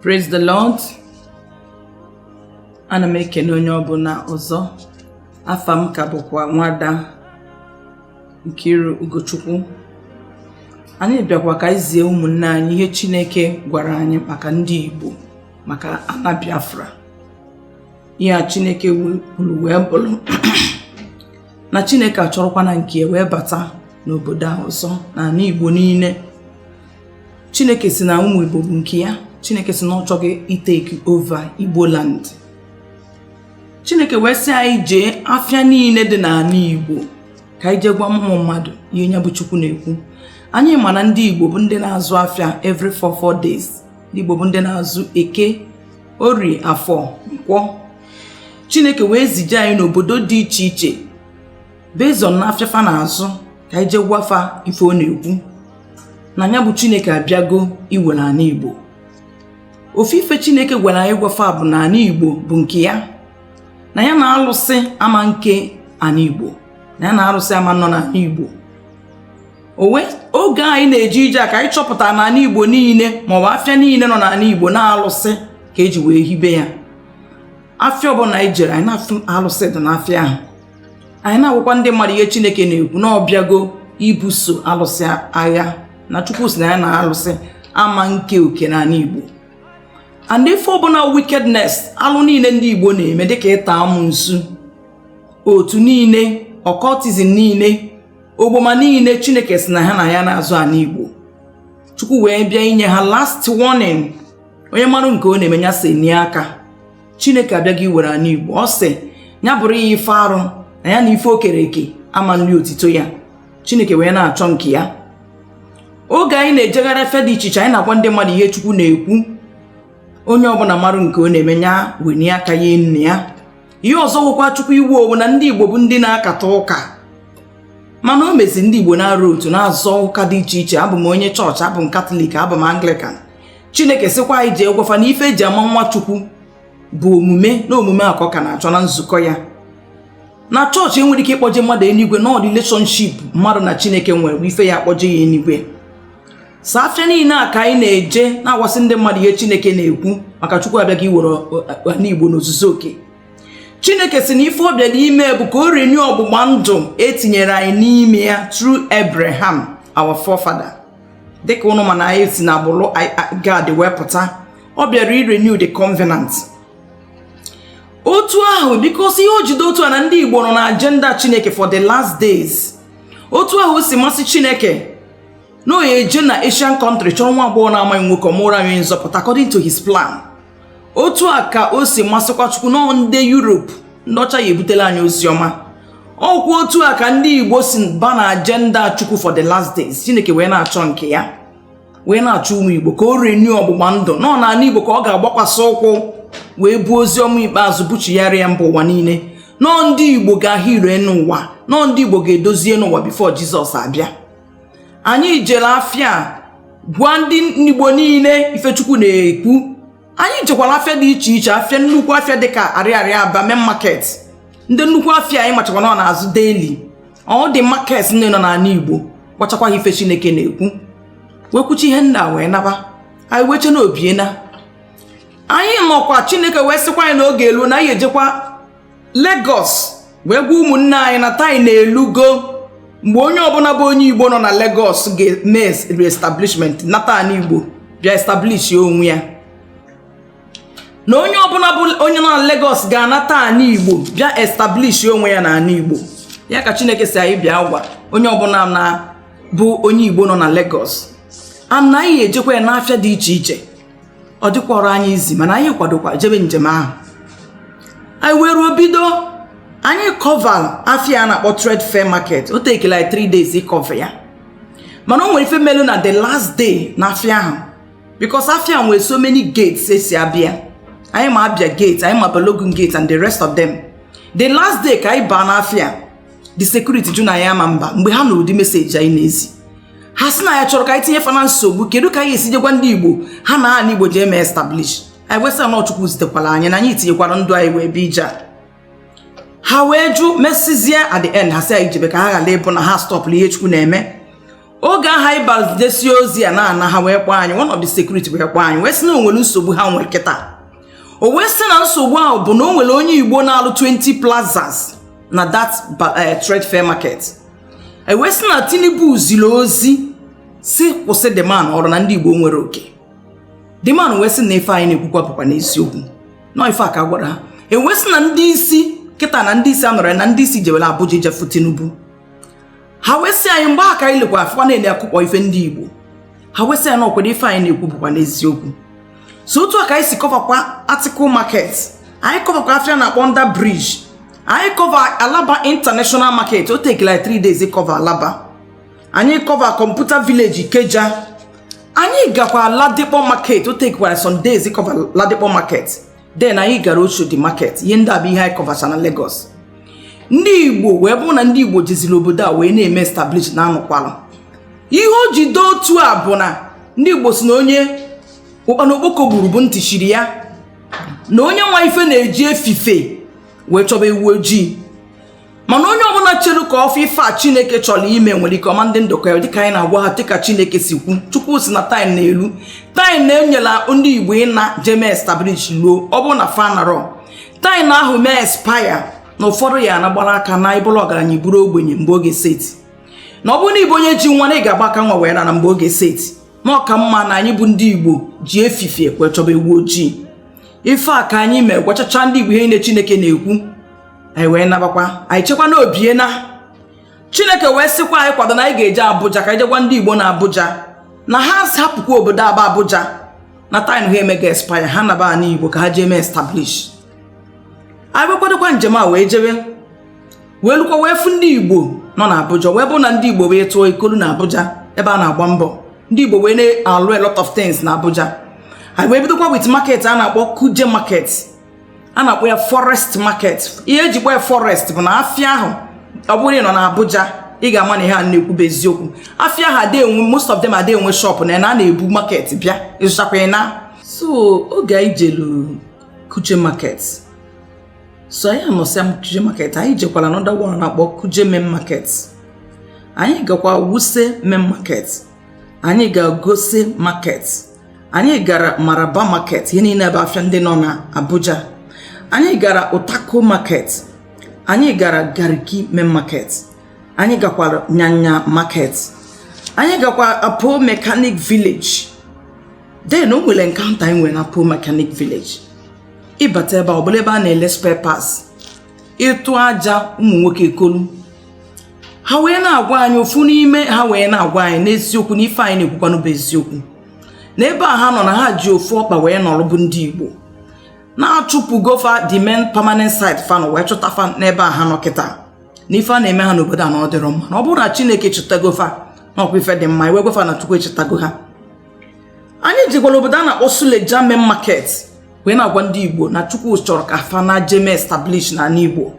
Praise the Lord. Ana m ekene onye ọbụla ọzọ. Afa m ka bụkwa nwada Nkiru Ugochukwu. Anyị bịakwa ka anyị zie ụmụnne anyị ihe Chineke gwara anyị maka ndị Igbo maka ana Biafra. Ihe a Chineke kwuru wee bụrụ na Chineke achọrọkwa na nke wee bata n'obodo a ọzọ na ala Igbo niile chineke sị na ụmụ igbo bụ nke ya chineke sị na ọ chọgo itake over igbo land chineke wee sị anyị jee afịa niile dị n'ala igbo ka anyị jee gwa ụmụ mmadụ ihe nya bụ chukwu na-ekwu anyị ma na ndị igbo bụ ndị na-azụ afịa every 4 4 days ndị igbo bụ ndị na-azụ eke orie afọ nkwọ chineke wee zije anyị n'obodo dị iche iche based on na afịa fa na-azụ ka anyị jee gwa fa ife ọ na-ekwu na ya bụ chineke abịago iwere ana igbo ofu ife chineke gwara anyị gwa fa bụ na ana igbo bụ nke ya na ya na alụsị ama nke ana igbo na ya na alụsị ama nọ n'ala igbo ọ wụ oge anyị na-eje ije a ka anyị chọpụtara na ana igbo niile maọbụ afịa niile nọ n'ala igbo na alụsị ka e ji wee hibe ya afịa ọbụla anyị jere anyị na-afụ alụsị dị n'afịa ahụ anyị na-agwakwa ndị mmadụ ihe chineke na-ekwu na ọ bịago ibuso alụsị agha na chukwu sị na ya na alụsị ama nke oke n'ala igbo and ife ọbụla wickedness alụ niile ndị igbo na-eme dịka ịta amụnsu otu niile occultism niile ogboma niile chineke sị na ha na ya na-azọ ala igbo chukwu wee bịa inye ha last warning onye marụ nke ọ na-eme ya si enye aka chineke abịago iwere ana igbo ọ sị ya bụrụ ya ife arụ na ya na ife o kere eke ama nri otito ya chineke wee na-achọ nke ya oge anyị na-ejegharị efe dị iche iche anyị na-agwa ndị mmadụ ihe chukwu na-ekwu onye ọbụla marụ nke ọ na-eme ya wenye aka ya n'ime ya ihe ọzọ gwụkwa chukwu iwu ọ wụ na ndị igbo bụ ndị na-akata ụka mana o mezie ndị igbo na-arụ otu na-azọ ụka dị iche iche abụ m onye chọọchị abụ m katọlik abụ m anglikan chineke sịkwa anyị jee gwa fa na ife e ji ama nwa chukwu bụ omume na omume a ka ọ ka na-achọ na nzukọ ya na chọọchị enwerọ ike ịkpọje mmadụ enigwe na ọ relationship mmadụ na chineke nwere wụ ife ya akpọje ya enigwe so afịa niile a ka anyị na-eje na-agwasị ndị mmadụ ihe chineke na-ekwu maka chukwu abịago iwere ala igbo n'ozuzu oke chineke sị na ife ọ bịara ime bụ ka o renew ọgbụgba ndụ e tinyere anyị n'ime ya through abraham our forefather dịka ụnụ ma na anyị si na agbụrụ gad wee pụta ọ bịara irenew the covenant otu ahụ because ihe o ji dị otu a na ndị igbo nọ na agenda chineke for the last days otu ahụ o si masị chineke na ọ ya-eje na asian country chọrọ nwa agbọghọ na-amaghị nwoke ọ mụụrụ anyị nzọpụta according to his plan otu a ka o si masịkwa chukwu nọọ ndị europe ndị ọcha ya-ebutela anyị ozi ọma ọkwa otu a ka ndị igbo si ba na agenda chukwu for the last days chineke wee na-achọ nke ya wee na-achọ ụmụ igbo ka o renew ọgbụgba ndụ nọọ n'anị igbo ka ọ ga-agbakwasị ụkwụ wee buo ozi ọma ikpeazụ buchigharịa mba ụwa niile nọọ ndị igbo ga-ahụ ire n'ụwa nọọ ndị igbo ga-edozi enu ụwa before jizọs abịa anyị jere afịa gwa ndị igbo niile ife chukwu na-ekwu anyị jekwara afịa dị iche iche afịa nnukwu afịa dịka arịarịa aba main market ndị nnukwu afịa anyị machakwa na ọ na-azụ daily all the market ndị nọ n'ana igbo gwachakwa ha ife chineke na-ekwu wee kwuchaa ihe ndị a wee naba anyị wee che na o biena anyị nọkwa chineke wee sịkwa anyị na oge eluo na anyị ejekwa Lagos wee gwa ụmụnne anyị na time elugo mgbe onye ọbụla bụ onye Igbo nọ na Lagos ga-eme reestablishment nata anị Igbo bịa establish onwe ya na onye ọbụla bụ onye nọ na Lagos ga-anata anị Igbo bịa establish onwe ya na anị Igbo ya ka Chineke sị anyị bịa gwa onye ọbụna bụ onye Igbo nọ na Lagos anyị ejekwaa n'afịa dị iche iche ọ dịkwọrọ anyị easy mana anyị kwadokwa jebe njem ahụ anyị wee ruo bido anyị cover afịa a na-akpọ trade fair market o takela anyị 3 days ịcover ya mana o nwere ife melu na the last day na afịa ahụ because afịa nwere so many gates e si abịa anyị ma abia gate anyị ma balogun gate and the rest of them the last day ka anyị baa n'afịa the security jụ na anyị ama mba mgbe ha nụrụ ụdị message anyị na-ezi ha sị na anyị chọrọ ka anyị tinye fa na nsogbu kedu ka anyị esi je gwa ndị igbo ha naa ana igbo jee mee establish anyị wee sị ha na ọ chukwu zitekwara anyị na anyị tinyekwara ndụ anyị wee bịa ije a. ha wee jụ mesizie at the end ha sị anyị jebe ka ha ghara ịbụ na ha stọpụrụ ihe chukwu na-eme oge ahụ anyị bịa zidesie ozi ya na-ana ha wee kpọọ anyị one of the security wee kpọọ anyị wee sị na o nwere nsogbu ha nwere kịta o wee sị na nsogbu ahụ bụ na o nwere onye igbo na-alụ 20 plazas na that eh, trade fair market e wee sị na Tinubu ziri ozi sị kwụsị the man ọrụ na ndị Igbo nwere oke the man wee sị na ife anyị na-ekwukwa bụkwanụ eziokwu na ife a ka a gwara ha e wee sị na ndị isi kịta na ndị isi anọrọ na ndị isi jewela Abuja ije fụ Tinubu ha wee sị anyị mgbe a ka anyị lekwa afụkwa na-ele akụkọ ife ndị Igbo ha wee sị anyị na ọkwado ife anyị na-ekwu bụkwanụ eziokwu so otu a ka anyị si kọvakwa article market anyị kọvakwa afịa a na-akpọ under bridge anyị kọva alaba international market o take like three days ịkọva alaba anyị kọva computer village ikeja anyị gakwa ladipo market o take like some days ịkọva ladipo market then anyị gara Oshodi market ihe ndị a bụ ihe anyị kọvacha na Lagos ndị Igbo wee bụrụ na ndị Igbo jiziri obodo a wee na-eme establish na anụkwala ihe o ji dị otu a bụ na ndị Igbo si na onye ụkpana okpoko gburu bụ ntị chiri ya na onye ma ife na-eji efifie wee chọba ewu ojii mana onye ọbụla chere ka ọ fụ ife a chineke chọrọ ime nwere ike ọ ma-adị ndụ kọọ ya dịka anyị na-agwa ha dịka chineke si kwu chukwu si na time na-elu time na-enyela ndị igbo ịna je mee establish ruo ọ bụrụ na fa anarọ time ahụ mee expire na ụfọdụ ya-ana gbara aka na ị bụrụ ọgaranya ị bụrụ ogbenye mgbe oge set na ọ bụrụ na ị bụ onye ji nwa na ị ga-agba aka nwa wee naa mgbe oge set na ọ ka mma na anyị bụ ndị igbo ji efifie wee chọba ewu ojii ife a ka anyị mee gwachacha ndị igbo ihe niile chineke na-ekwu anyị wee nabakwa anyị chekwa na o bie na chineke wee sịkwa anyị kwado na anyị ga-eje abuja ka anyị je gwa ndị igbo na abuja na ha hapụkwa obodo a bụ abuja na time ha emego expire ha naba ana igbo ka ha jee mee establish anyị wee kwadokwa njem a wee jewe wee lukwa wee fụ ndị igbo nọ na abuja wee bụ na ndị igbo wee tụọ ikolu na abuja ebe a na-agba mbọ ndị igbo wee na-alụ a lot of things na abuja anyị wee bidokwa with market a na-akpọ kuje market a na-akpọ ya forest market ihe e ji kpọọ ya forest bụ na afịa ahụ ọ bụrụ nọ na Abuja ị ga-ama na ihe a na-ekwu bụ eziokwu afịa ahụ ada enwe most of them ada enwe shop na na na-ebu market bịa ị zụchakwa ị naa so oge anyị jelu Kuje market so anyị anọsịa Kuje market anyị jekwara another one a na-akpọ Kuje main market anyị gakwa wuse main market anyị gaa gosa market anyị gara maraba market ihe niile bụ afịa ndị nọ na abuja anyị gara utako market anyị gara garki main market anyị gakwara nyanya market anyị gakwa apo mechanic village then o nwere encounter anyị nwere na apo mechanic village ị bata ebe ọ bụla ebe a na-ele spare parts ị tụọ aja ụmụ nwoke ekolu ha wee na-agwa anyị ofu n'ime ha wee na-agwa anyị n'eziokwu na ife anyị na-ekwukwanụ bụ eziokwu na ebe a ha nọ na ha ji ofu ọkpa wee nọrọ bụ ndị Igbo na a chụpụgo fa the main permanent site fa nọ wee chụta fa n'ebe a ha nọ kịta na ife a na-eme ha n'obodo a na ọ dịrọ mma na ọ bụrụ na Chineke chetago fa na ọkwa ife dị mma e wee gwa fa na Chukwu echetago ha anyị jekwara obodo a na-akpọ Suleja main market wee na-agwa ndị Igbo na Chukwu chọrọ ka fa naa je mee establish n'ala Igbo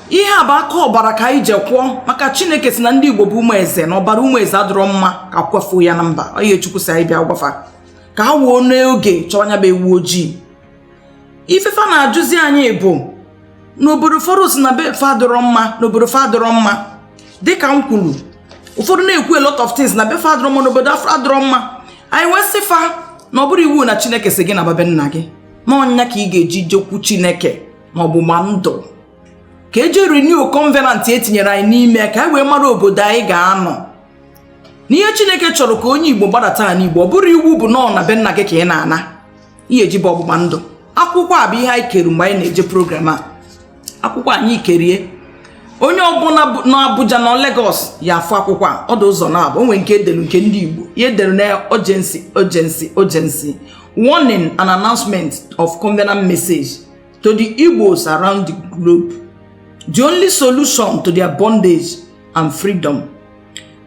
ihe a bụ aka ọbara ka anyị jekwụọ maka chineke si na ndị igbo bụ ụmụ eze na ọbara ụmụ eze adịrọ mma ka a kwafuo ya na mba onye chukwu si anyị bịa gwa fa ka ha wuo n'oge chọwa nya bụ ewu ojii ife fa na-ajụzi anyị bụ n'obodo ụfọdụ si na be fa adịrọ mma n'obodo fa adịrọ mma dịka m kwuru ụfọdụ na-ekwu a lot of things na be fa adịrọ mma n'obodo fa adịrọ mma anyị wee sị fa na ọ bụrọ iwu na chineke si gị naba be nna gị na ọ ya ka ị ga-eji jekwu chineke ma ọgbụgba ndụ ka eje renew covenant etinyere anyị n'ime ka anyị wee mara obodo anyị ga-anọ n'ihe chineke chọrọ ka onye igbo gbadata na igbo ọ bụrọ iwu bụ nọọ na be nna gị ka ị na-ana ihe eji bụ ọgbụgba ndụ akwụkwọ a bụ ihe anyị kere mgbe anyị na-eje program a akwụkwọ anyị kere ya onye ọbụla nọ Abuja na Lagos ya afụ akwụkwọ a ọ dị ụzọ naabọ o nwee nke edelu nke ndị Igbo ihe edere na urgency urgency urgency warning and announcement of covenant message to the Igbos around the globe. The only solution to their bondage and freedom.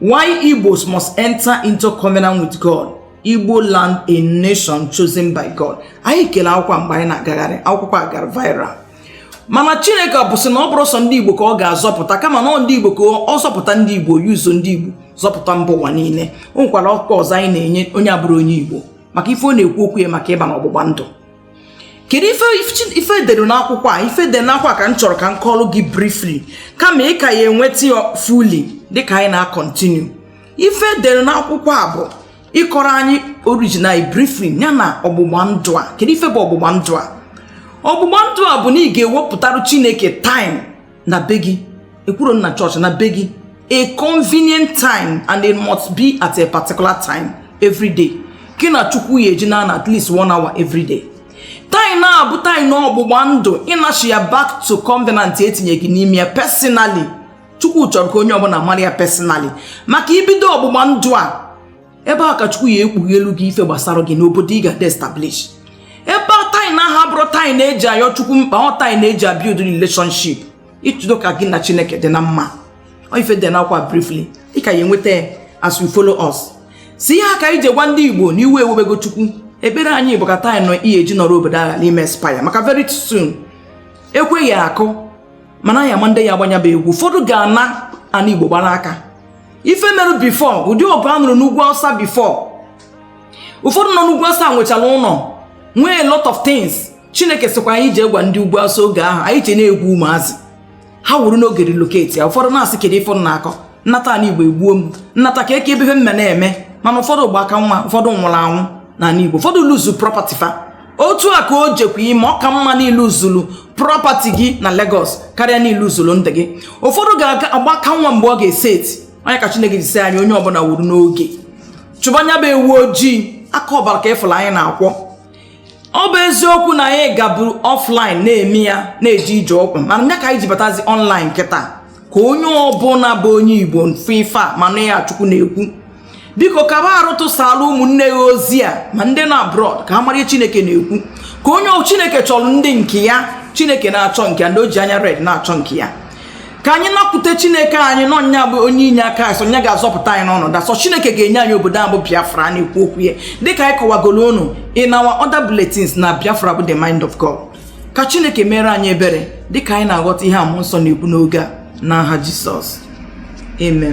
Why Igbos must enter into covenant with God. Igbo land a nation chosen by God. Anyị kele akwụkwọ mgbe anyị na-agagharị akwụkwọ a gara viral. mana chineke bụ sị na ọ bụrọ sọ ndị igbo ka ọ ga-azọpụta kama na ọ ndị igbo ka ọ zọpụta ndị igbo yuzo ndị igbo zọpụta mba ụwa niile o nwekwara akwụkwọ ọzọ anyị na-enye onye abụrọ onye igbo maka ife ọ na-ekwu okwu ya maka ịba na ọgbụgba ndụ kedu ife edere n'akwụkwọ a ife edere n'akwụkwọ a ka m chọrọ ka m kọọrọ gị briefly kama ị ka ya enweta ya fully dịka anyị na-akọntinu ife edere n'akwụkwọ a bụ ịkọrọ anyị origin anyị briefly ya na ọgbụgba ndụ a kedu ife bụ ọgbụgba ndụ a ọgbụgba ndụ a bụ na ị ga-ewepụtara chineke time na be gị ekwuro m na chọọchị na be gị a convenient time and it must be at a particular time every day gị na chukwu ya eji na-anọ at least one hour every day time a bụ time ọgbụgba ndụ ịnachigha back to covenant etinye gị n'ime ya personally chukwu chọrọ ka onye ọbụla mara ya personally maka i bido ọgbụgba ndụ a ebe a ka chukwu ya ekpughelu gị ife gbasara gị n'obodo ị ga-eje establish ebe a time ahụ abụrọ time eji ayọ chukwu mkpa ọ time eji abuild relationship ịchụdo ka gị na chineke dị na mma ife dị n'akwụkwọ a briefly ị ka ya enweta ya as you follow us sị ka anyị je gwa ndị igbo na iwe ewebego chukwu ekpere anyị bụ ka time nọ ihe eji nọrọ obodo agha n'ime expire maka very soon ekwe ya akụ mana a ya ama ndị ya agba nya bụ egwu ụfọdụ ga-ana ana igbo gbara aka ife mere before ụdị ọgụ a nụrụ n'ugwu awụsa before ụfọdụ nọ n'ugwu awụsa nwechara ụlọ nwee lot of things chineke sịkwa anyị je gwa ndị ugwu awụsa oge ahụ anyị ji na-egwu ụmụazị ha wuru n'oge relocate ya ụfọdụ na-asị kedu ife ọ na-akọ m nata ala igbo egbuo m m nata ka eke ebe ihe mme na-eme mana ụfọdụ gba aka naa ụfọdụ nwụrụ anwụ n'ala igbo ụfọdụ lose property fa otu a ka o jekwa ime ọ ka mma na i luzulu property gị na Lagos karịa na i luzulu ndụ gị ụfọdụ ga-agba aka nwa mgbe ọ ga-eseti ọ nya ka Chineke ji sị anyị onye ọbụla wuru n'oge chụba nya bụ ewu ojii aka ọbara ka ị fụla anyị na-akwọ ọ bụ eziokwu na anyị gaburu offline na-eme ya na-eji ije ụkwụ mana nya ka anyị ji batazi online kịta ka onye ọbụla bụ onye Igbo fụ ife a ma nụ ihe a Chukwu na-ekwu biko ka ba arụ tụsara ụmụnne gị ozi a ma ndị nọ abroad ka ha mara ihe chineke na-ekwu ka onye chineke chọrọ ndị nke ya chineke na-achọ nke ya ndị o ji anya red na-achọ nke ya ka anyị nakwute chineke anyị na ọ nya bụ onye inye aka anyị sọ nya ga-azọpụta anyị n'ọnọdụ a sọ chineke ga-enye anyị obodo a bụ biafra a na-ekwu okwu ya dịka anyị kọwagoro unu in our other bulletins na biafra bụ the mind of god ka chineke meere anyị ebere dịka anyị na-aghọta ihe a mmụọ nsọ na-ekwu n'oge a n'aha jisọs amen